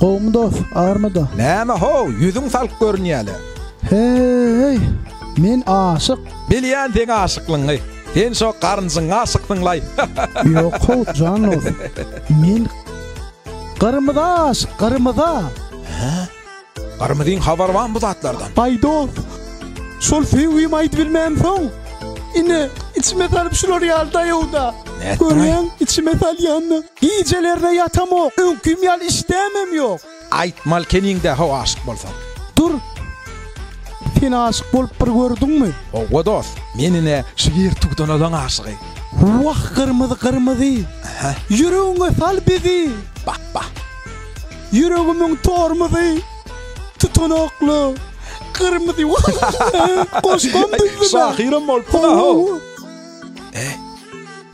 Gowmy dos, armyda? Näme how, ýüzüň salk görünýäle? Heý, men aşyk. Bilýän seň aşyklygyňy. Sen şo garynjyň aşyksyňlaý. Ýok how, jan dos. Men gyrmyza aşyk, gyrmyza. Hä? Gyrmyzyň habary barmy bu zatlardan? Baý dos, şol söýgimi aýdyp bilmänsoň, ine, içime salyp şular ýaly daýaw-da. Nätdiň-aý? Görýäň, içime salýan-da. Gijelerine ýatamok, öňkim ýaly işdämem ýok. Aýtmaly keniňdä how aşyk bolsam. Dur, sen aşyk bolup bir gördüňmi? Howwa dost, men ine şu ýer tugdan olan aşygy. Wah gyrmyzy gyrmyzy. Aha. Ýüregiňe sal bizi. Bah bah. Ýüregimiň tormuzy. Tutanakly. Gyrmyzy wah. Goşgam düzdüm. Şahyram bolupsyň a how. Eý.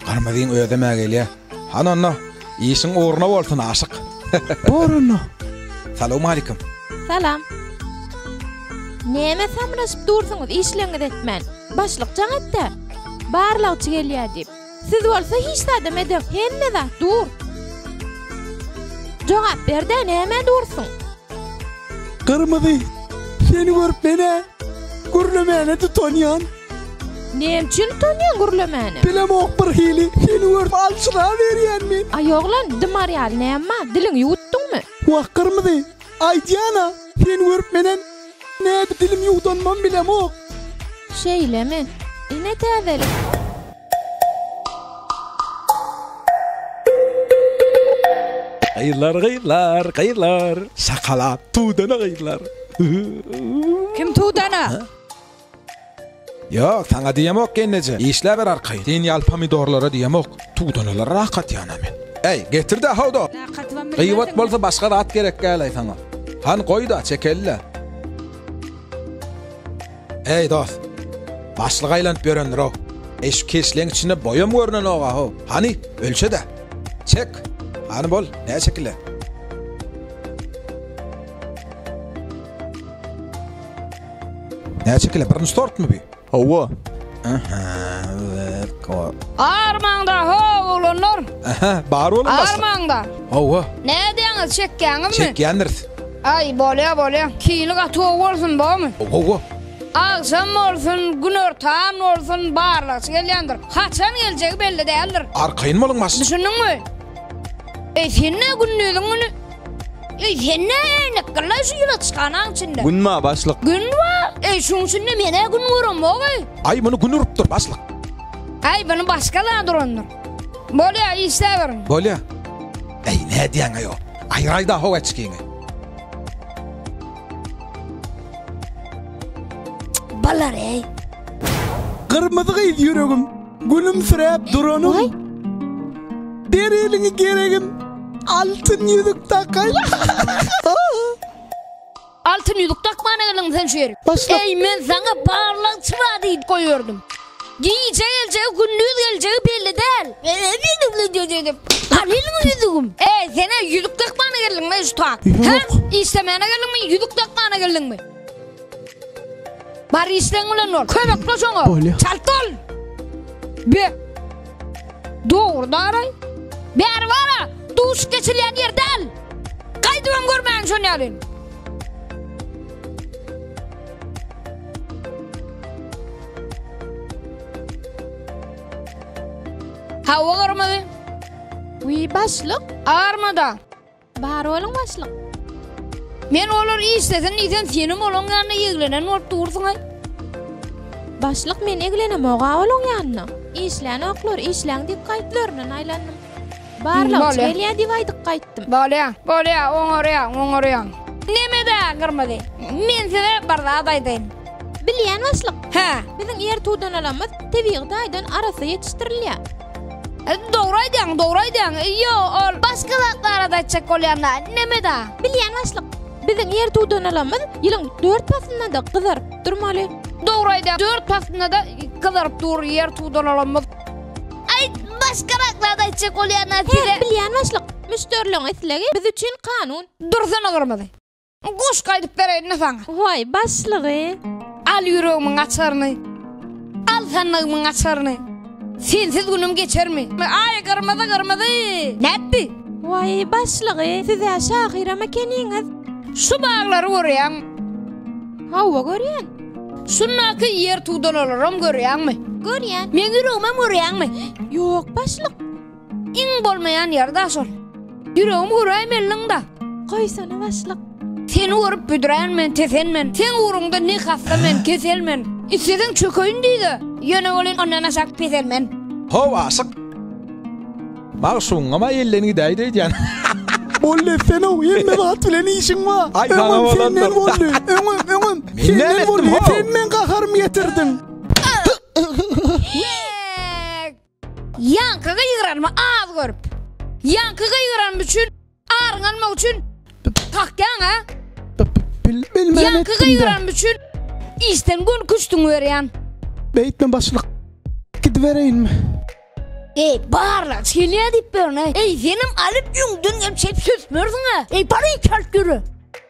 Gyrmyzyň özem-ä gelýä. Hananna, işiň ugruna bolsun, aşyk! Boranna! Salowmalikim! Salam! Näme samraşyp dursuňyz işleňizi etmän? Başlyk jaň etdä! Barlagçy gelýä diýip. Siz bolsa hiç zadam edeň, hemme zat dur! Jogap berdä nämä dursuň? Gyrmyzy, seni görüp men-ä gürlemäne tutanýan! Näme üçin utanýaň gürlemäne? Bilemok birhili, seni görüp aljyraberýänmi? Aý oglan, dymar ýaly näme bar, diliňi ýuwutdyňmy? Wah gyrmyzy, aýdýan-a, seni görüp menem nädip dilimi ýuwdanymam bilemok. Şeýlemi? Ine täzelik. Gyzlar gyzlar gyzlar. Şakalak tudana gyzlar. Kim tudana? Ýok, saňa diýemok, gelneje, işläber arkaýyn. Sen ýaly pomidorlara diýemok, tugdanalara rakatýan-a men. Äý, getir-dä, howda! Gyýwat bolsa başga zat gerek däl-aý saňa. Hany, goý-da, çekeli-dä. Äý, dost, başlyk aýlanyp ýörendir-ow. Äý, şu keşleň içinde boýam görnenok-a-how. Hany, ölçe-dä. Çek! Hany, bol, näçe kile? Näçe kile? Birinci tort mu bi? Hawa. Aha. Armaňda ho oglanlar. Aha, bar olam başda. Armaňda. Hawa. Ne diýäňiz, çekýäňizmi? Çekýändiris. Ay bolýa bolýa. Kini gaty gowy bolsun bomy? Hawa. Agşam bolsun, gün ortan bolsun, barlagçy gelýändir. Haçan geljegi belli däldir. Arkaýyn boluň başda. Düşündiňmi? Eý sen-ä gündiziň güni. Eý sen-ä äýnek gyllaý şu ýylaçhanaň içinde. Gün bar başlyk. Gün bar. Eý şuň içinde men-ä gün göremok-eý. Aý muny gün urupdyr başlyk. Aý buny başga zat urandyr. Bolýar işläberiň. Bolýar. Eý nädýäň-eý o. Aýyraý-da ho eçgiňi. Bolar-eý. Gyrmyzy gyz ýüregim. Gülümsiräp duranym. Waý. Ber eliňi geregim. Altyn ýüzük takaýyn. Altyn ýüzük dakmana geldiňmi sen şu ýere? Başlyk. Eý, men saňa barlagçy bar diýip goýberdym. Gije geljegi, gündiz geljegi belli däl. Al eliňi ýüzügim. Eý, sen ä ýüzük dakmana geldiňmi şu tak? Ýok. Hä? Işlemäne geldiňmi, ýüzük dakmana geldiňmi? Bar işleň bilen bol. Kömekle şoňa. Bolýa. Çalt ol. Be. Dogry daraý. Bäri bara. Duşup geçilýän ýer däl. Gaýdybam görmäň şony ýaly. Hawa garmady. Wiý başlyk. Armada. Bar boluň başlyk. Men olar işlesin diýsem senem olaň ýanyna ýeglenen bolup dursuňaý. Başlyk men eglenemog-a olaň ýanyna. Işlänoklar, işläň diýip gaýyplaryndan aýlandym. Barlagçy gelýä diýip aýdyp gaýytdym. Bolýa, bolýa, oňarýaň, oňarýaň. Neme-dä gyrmyzy? Men size bir zat aýdaýyn. Bilýän başlyk. Hä. Biziň ýer tudanalymyz tebigy taýdan arassa ýetişdirilýä. Dogry aýdýaň, dogry aýdýaň. Ýo, ol başga zatlara da aýtjak bolýanda, neme-da? Bilýän başlyk. Biziň ýer dudanalamyz ýylyň dört paslynda-da gyzaryp durmaly. Dogry aýdýaň, dört paslynda-da gyzaryp dur ýer dudanalamyz. Aýt, başga zatlarda aýtjak bolýanda size. Hä, bilýän başlyk. Müşderiligiň islegi biz üçin kanun. Dursana gyrmyzy. Goşgy aýdyp bereýin-le saňa. Goý, başlygy. Al ýüregimiň açaryny. Al sandygymyň açaryny. Sensiz günüm geçermi? Aý, gyrmyzy-gyrmyzy. Nätdi? Goý, başlygy, siz-ä şahyram ekeniňiz. Şu baglary görýäňmi? Hawa, görýän. Şundaky ýer tudalarlaram görýäňmi? Görýän. Meň ýüregimem görýäňmi? Ýok, başlyk. Iň bolmaýan ýeri daş ol. Ýüregim göräýmeliň-da. Goýsana başlyk. Seni görüp büdrän men, tesen men. Seň ugruňda ne hassa men, kesel men. Isleseň çökeýin düýde. Ýöne welin ondan aşak pesel men. How aşyk. Magşugyňam-a elden gidäýdi öýdýän. Boldy etsene-ow, hemme zat bilen işiň bar. Aý, saňa Öňem bolandyr. senden boldy, öňem, öňem. Men Senden näme etdim, boldy, ho? sen meň gaharymy getirdiň. Ýaňky gygyranymy az görüp. Ýaňky gygyranym üçin aryň almak üçin kakýaň a? Bilmän Ýaňky gygyranym üçin işden gün küştüň berýän. Beýtme başlyk. Gidibereýinmi? Ey, barla, çilýä diýip berene. Ey, senem alyp ýüňdün, hem çep söp bersiň a. Ey, bary çalt ýöre.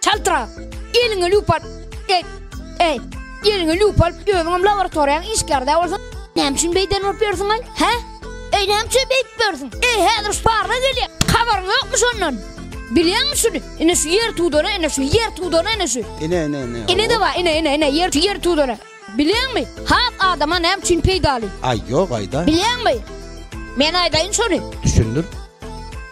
Çaltrak, eliňe lüp al. Ey, ey, eliňe lüp al. Özüňem laboratoriýaň işgärde bolsun. Näme üçin beýden bolup ýörsüň, aý? Hä? Ey, näme üçin beýdip ýörsüň? Ey, häzir Sparra gelýär. Habaryň ýokmy şondan? Bilýäňmi şuny? Ine şu ýer tudana, ine şu ýer tudana, ine şu. Ine, ine, ine. Ine-de bar, ine, ine, ine, ýer, ýer tudana. Bilýäňmi, hak adama näme üçin peýdaly? Aý, ýok, aýda. Bilýäňmi? Men aýdaýyn şony. Düşündir.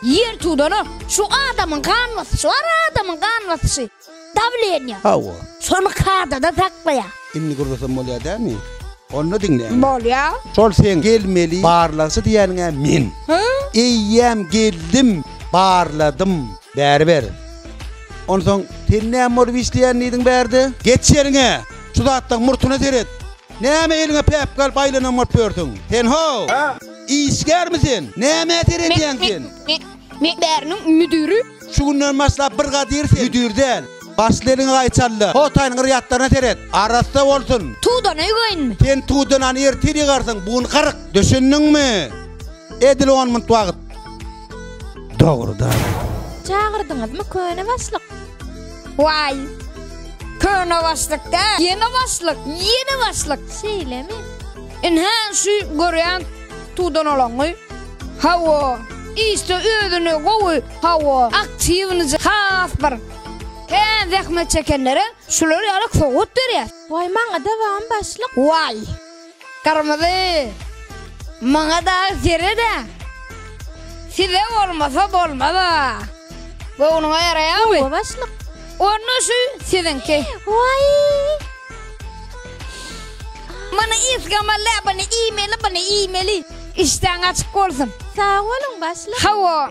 Ýer tudanok. Şu adamyň gan basyşy bar, adamyň gan basyşy. Dawleniýa. Hawa. Şony kadada saklaýar. Indi gürlesem bolýar dämi? Onda diňläýin. Bolýar. Şol seň gelmeli barlagçy diýýäniň-ä men. Hä? Eýýäm geldim, barladym. Bäri ber. Onsoň sen näme bolup işleýän diýdiň bärde? Geç ýeriňe! Şu zatlaň murtyna seret. Näme eliňe päpgi alyp aýlanan bolup ýörsüň? Sen how? Işgärmi sen? Nämä seredýäň sen? Men bäriniň müdüri. Şu günden başlap bir gadyr sen müdür däl. Başla eliňi gaýçalla. Hotaýyň yrýatlaryna seret. Arassa bolsun. Tudana ýugaýynmy? Sen tudanany ertir ýygarsyň, bu gün garyk. Düşündiňmi? Edil on minut wagt. Dogrudan. Çagyrdyňyzmy köne başlyk? Waý. Köne başlyk da. Ýene başlyk, ýene başlyk. Şeýlemi? Inha şu görýän tudan olaňy. Hawa. Işde özüni gowy, hawa, aktiwnyjy has bir. He, zähmet çekenlere şular ýaly sowgat berýär. Waý, maňa dawam başlyk. Waý. Gyrmyzy maňa dagy serede size bolmasa bolmaz a göwnüňe ýaraýamy? Gowy başlyk. Onda şu siziňki. Waý. Mana isgama labany iýmeli buny iýmeli. Işdäň açyk bolsun. Sag boluň başlyk. Hawa.